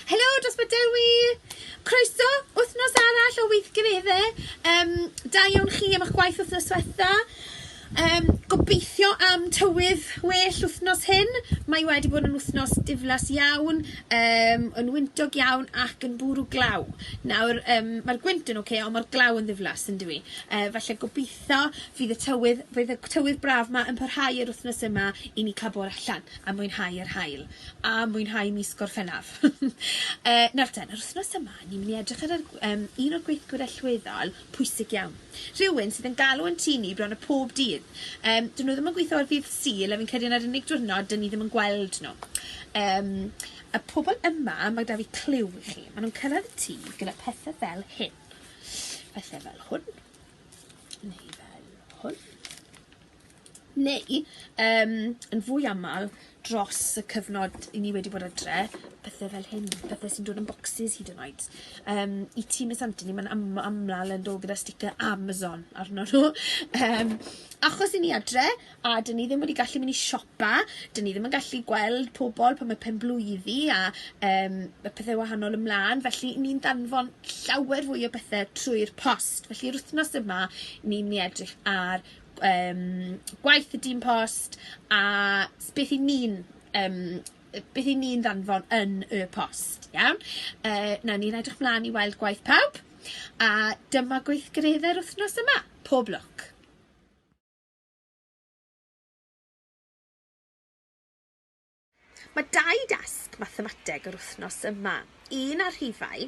Helo, Dosbarth Dewi! Croeso, wythnos arall o weithgaredde. Um, da iawn chi am eich gwaith wythnos diwetha. Um, gobeithio am tywydd well wythnos hyn. Mae wedi bod yn wythnos diflas iawn, um, yn wyntog iawn ac yn bwrw glaw. Nawr, um, mae'r gwynt yn oce, okay, ond mae'r glaw yn ddiflas yn dwi. Uh, felly gobeithio fydd y tywydd, fydd y tywydd braf yma yn parhau yr wythnos yma i ni cael bod allan a mwynhau yr hael. a mwynhau mis Gorffennaf. e, nawr ten, yr wythnos yma, ni'n mynd i edrych ar yr, um, un o'r gweithgwyr allweddol pwysig iawn. Rhywun sydd yn galw yn tu ni bron y pob dydd. Um, dyn nhw ddim yn gweithio ar ddydd syl, a fi'n credu yna'r unig diwrnod dyn ni ddim yn gweld nhw. Um, y pobl yma, mae da fi clyw i chi. Maen nhw'n cyrraedd y tŷ gyda pethau fel hyn. Pethau fel hwn. Neu fel hwn. neu yym yn fwy aml dros y cyfnod 'yn ni wedi bod adre, pethe fel hyn, pethe sy'n dod yn bocsys hyd yn oed yym i ti Miss Anthony ma'n am- amlal yn dod gyda sticer Amazon arno nhw yym achos 'yn ni adre a 'dyn ni ddim wedi gallu myn' i siopa 'dyn ni ddim yn gallu gweld pobol pan ma' penblwyddi a yym ma' pethe wahanol ymlan felly ni'n danfon llawer fwy o bethe trwy'r post felly'r wthnos yma ni myn' i edrych ar yym gwaith y dyn post a s- beth 'yn ni'n yym yy beth 'yn ni'n ddanfon yn y post iawn yy newn ni edrych mlan i weld gwaith pawb a dyma gweithgaredde'r wthnos yma. Pob lwc. Mae dau dasg mathemateg yr wythnos yma, un ar rhifau,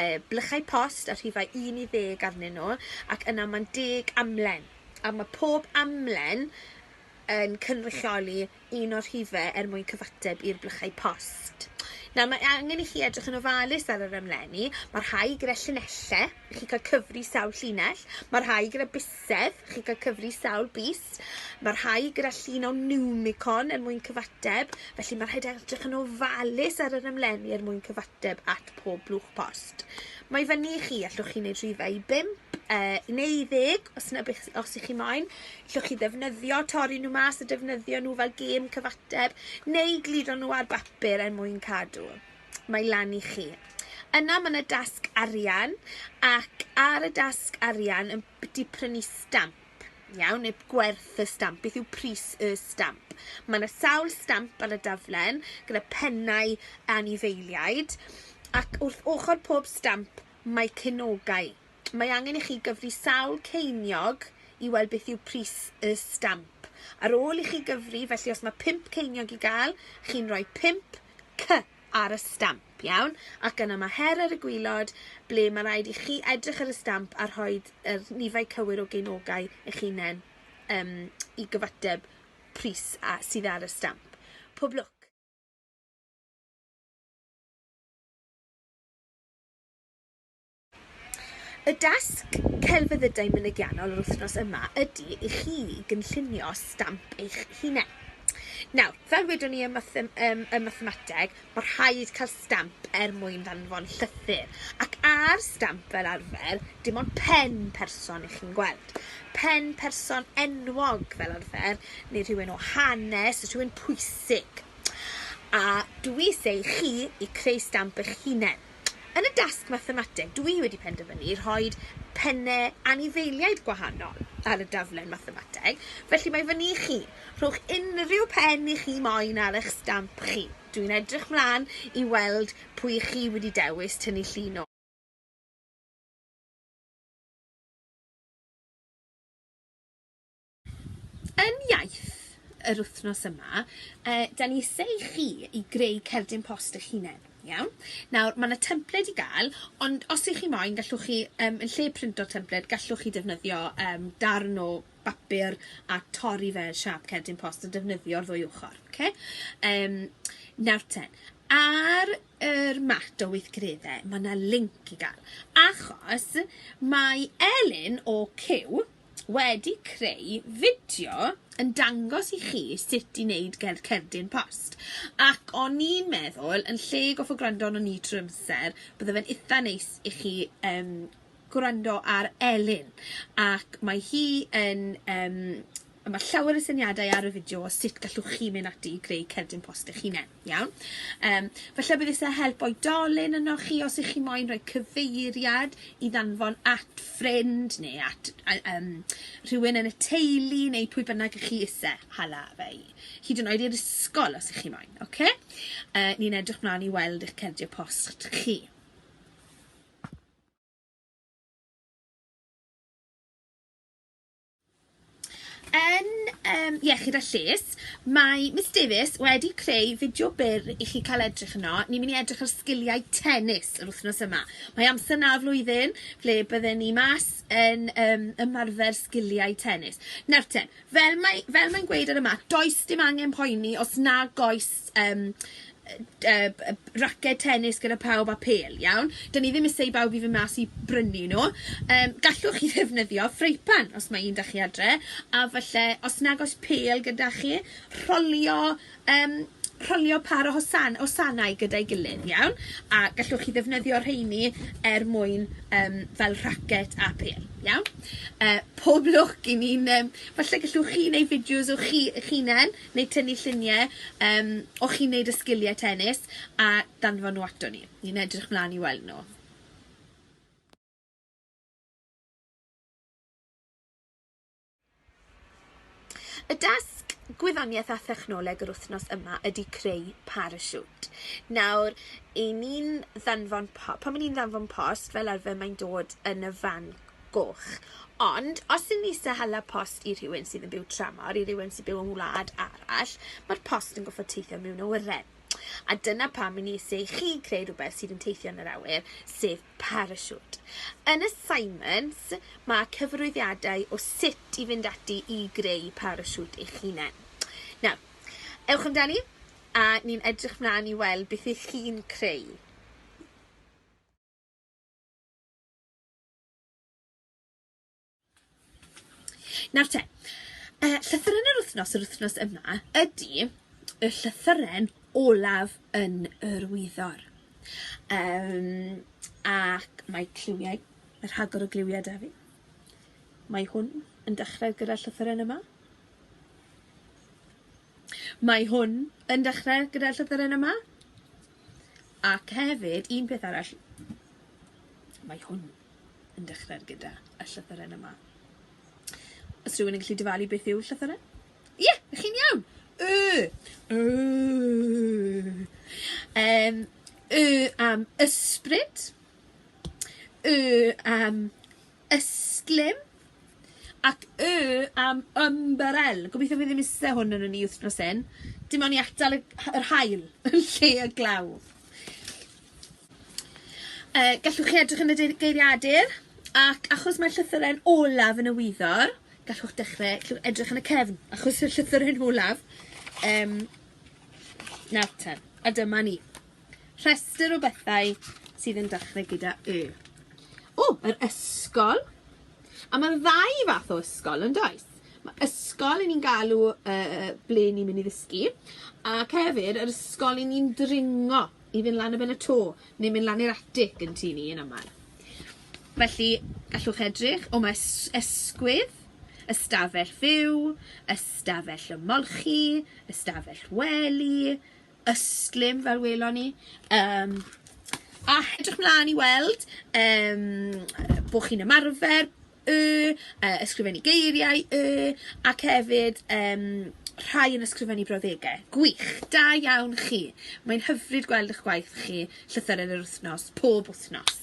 e, blychau post a rhifau 1 i ddeg arnyn nhw, ac yna mae'n deg amlen. A mae pob amlen yn cynrychioli un o'r rhifau er mwyn cyfateb i'r blychau post. Nawr, mae angen i chi edrych yn ofalus ar yr amlenni. Mae rhai gyda llinellau, i chi cael cyfri sawl llinell. Mae rhai gyda Sef, chi'n cael cyfri sawl bys. Mae rhai gyda llun o niwmicon er mwyn cyfateb, felly mae rhaid edrych yn ofalus ar yr ymlenni er mwyn cyfateb at pob blwch post. Mae i fyny i chi, allwch chi wneud rhywbeth i 5 uh, neu i ddeg, os yna beth os ych chi moyn. Llwch chi ddefnyddio, torri nhw mas a defnyddio nhw fel gêm cyfateb, neu gludo nhw ar bapur er mwyn cadw. mae lan i chi. Yna mae yna dasg arian ac ar y dasg arian yn di prynu stamp. Iawn, neu gwerth y stamp, beth yw pris y stamp. Mae yna sawl stamp ar y daflen gyda pennau anifeiliaid ac wrth ochr pob stamp mae cynogau mae angen i chi gyfri sawl ceiniog i weld beth yw pris y stamp. Ar ôl i chi gyfri, felly os mae pump ceiniog i gael, chi'n rhoi pump C ar y stamp, iawn? Ac yna mae her ar y gwylod ble mae rhaid i chi edrych ar y stamp a rhoi yr nifau cywir o geinogau eich hunain um, i gyfateb pris a, sydd ar y stamp. Pob lwc! Y dasg celfyddydau mynegiannol yr wythnos yma ydy i chi gynllunio stamp eich hunain. Nawr, fel wedwn ni ym, mathem, ym, ym mathemateg, mae rhaid cael stamp er mwyn ddanfon llythyr. Ac ar stamp fel arfer, dim ond pen person ych chi'n gweld. Pen person enwog fel arfer, neu rhywun o hanes, rhywun pwysig. A dwi eisiau i chi i creu stamp eich hunain. Yn y dasg mathemateg dw i wedi penderfynu rhoi penne anifeiliaid gwahanol ar y daflen mathemateg, felly mae fyny i chi. Rhowch unrhyw pen i chi moyn ar eich stamp chi. Dw i'n edrych mlaen i weld pwy i chi wedi dewis tynnu llun o. Yn iaith yr wthnos yma yy 'dan ni isie i chi i greu cerdyn post 'ych hunen, iawn? Nawr ma' 'na templed i ga'l ond os 'ych chi moyn gallwch chi yym yn lle printo'r templed gallwch chi defnyddio yym darn o bapur a torri fe yn siâp cerdyn post a defnyddio'r ddwy ochor oce? Yym nawr te ar yr mat o weithgaredde ma' 'na linc i ga'l achos mae Elin o CUE wedi creu fideo yn dangos i chi sut i neud gerdd cerdyn post ac o'n i'n meddwl yn lle goffo gwrando arnon ni trwy'r amser bydde fe'n itha neis i chi yym gwrando ar Elin ac mae hi yn yym a ma' llawer o syniadau ar y fideo o sut gallwch chi mynd ati i greu cerdyn post eich hunen. Iawn. Yym, falle bydd isie help oedolyn ynoch chi os 'ych chi moyn rhoi cyfeiriad i ddanfon at ffrind ne' at ai- yym rhywun yn y teulu neu pwy bynnag 'ych chi isie hala fe i. Hyd yn oed i'r ysgol os 'ych chi moyn, oce? Yy ni'n edrych mlan i weld 'ych cardiau post chi. Yn um, Iechyd a Lles, mae Miss Davies wedi creu fideo byr i chi cael edrych yno. Ni'n mynd i edrych ar sgiliau tennis yr wythnos yma. Mae amser na flwyddyn ble bydden ni mas yn um, ymarfer sgiliau tennis. Nawr te, fel mae'n mae, mae gweud ar y mat, does dim angen poeni os na goes yym yy yy b- yy raced tennis gyda pawb a phêl iawn, 'dyn ni ddim isie i bawb i fyn' mas i brynu nw, yym gallwch chi ddefnyddio ffrypan os ma' un 'da chi adre, a falle os nag o's pêl gyda chi, rholio yym rholio pâr o hosan- hosanau gyda'i gilydd, iawn? A gallwch chi ddefnyddio rheini er mwyn yym fel rhacet a phêl, iawn? Yy pob lwc i ni'n yym falle gallwch chi neu' fideos o chi 'ych hunen neu tynnu llunie yym o chi'n neud y sgilie tennis a danfon nw ato ni. Ni'n edrych mlan i weld nw. Y dasg Gwyddoniaeth a Thechnoleg yr wythnos yma ydy creu parasiwt. Nawr, i ni'n ddanfon po- pan 'yn ni'n ddanfon post fel arfer mae'n dod yn y fan goch. Ond, os ydyn ni isie hala post i rhywun sydd yn byw tramor, i rywun sy'n byw yn wlad arall, mae'r post yn gorfod teithio mewn awyren. A dyna pam i ni isie i chi greu rhywbeth sydd yn teithio yn yr awyr, sef parasiwt. Yn y Simons, mae cyfarwyddiadau o sut i fynd ati i greu parasiwt eich hunain. Nawr, ewch amdani, a ni'n edrych mlaen i weld beth ych chi'n creu. Nawr te, y llythyren yr wythnos yr wythnos yma ydy y llythyren olaf yn yr wyddor. Um, ac mae cliwiau, y rhagor o gliwiau da fi. Mae hwn yn dechrau gyda'r llythyren yma. Mae hwn yn dechre gyda'r llythyren yma, ac hefyd, un peth arall, mae hwn yn dechre gyda y llythyren yma. Os rhywun yn gallu dyfalu beth yw'r llythyren? Ie, yeah, chi'n iawn! Y! Y! Um, y am ysbryd, y am Ystlum ac Y am Ymbarél. Gobeithio fi ddim iste hwn yn y ni wthnos hyn. Dim on i atal y h- yr haul yn lle y glaw. Yy gallwch chi edrych yn y dei- geiriadur ac achos mae llythyren olaf yn y wyddor gallwch dechre llw- edrych yn y cefn achos y llythyren olaf yym nawr ten a dyma ni. Rhestr o bethau sydd yn dechrau gyda Y. O! Yr ysgol. A ma' 'na ddau fath o ysgol yndoes? Ma' ysgol 'yn ni'n galw yy ble ni'n myn' i ddysgu ac hefyd yr ysgol 'yn ni'n dringo i fyn' lan y ben y to ne' myn' lan i'r atig yn tŷ ni yn amal. Felly gallwch edrych o ma' es- esgwydd, ystafell fyw, ystafell ymolchi, ystafell wely, ystlum fel welon ni yym a edrych mlan i weld yym bo' chi'n ymarfer y yy ysgrifennu geiriau y ac hefyd yym rhai yn ysgrifennu brawddege. Gwych, da iawn chi. Mae'n hyfryd gweld 'ych gwaith chi llythyren yr wythnos, pob wythnos.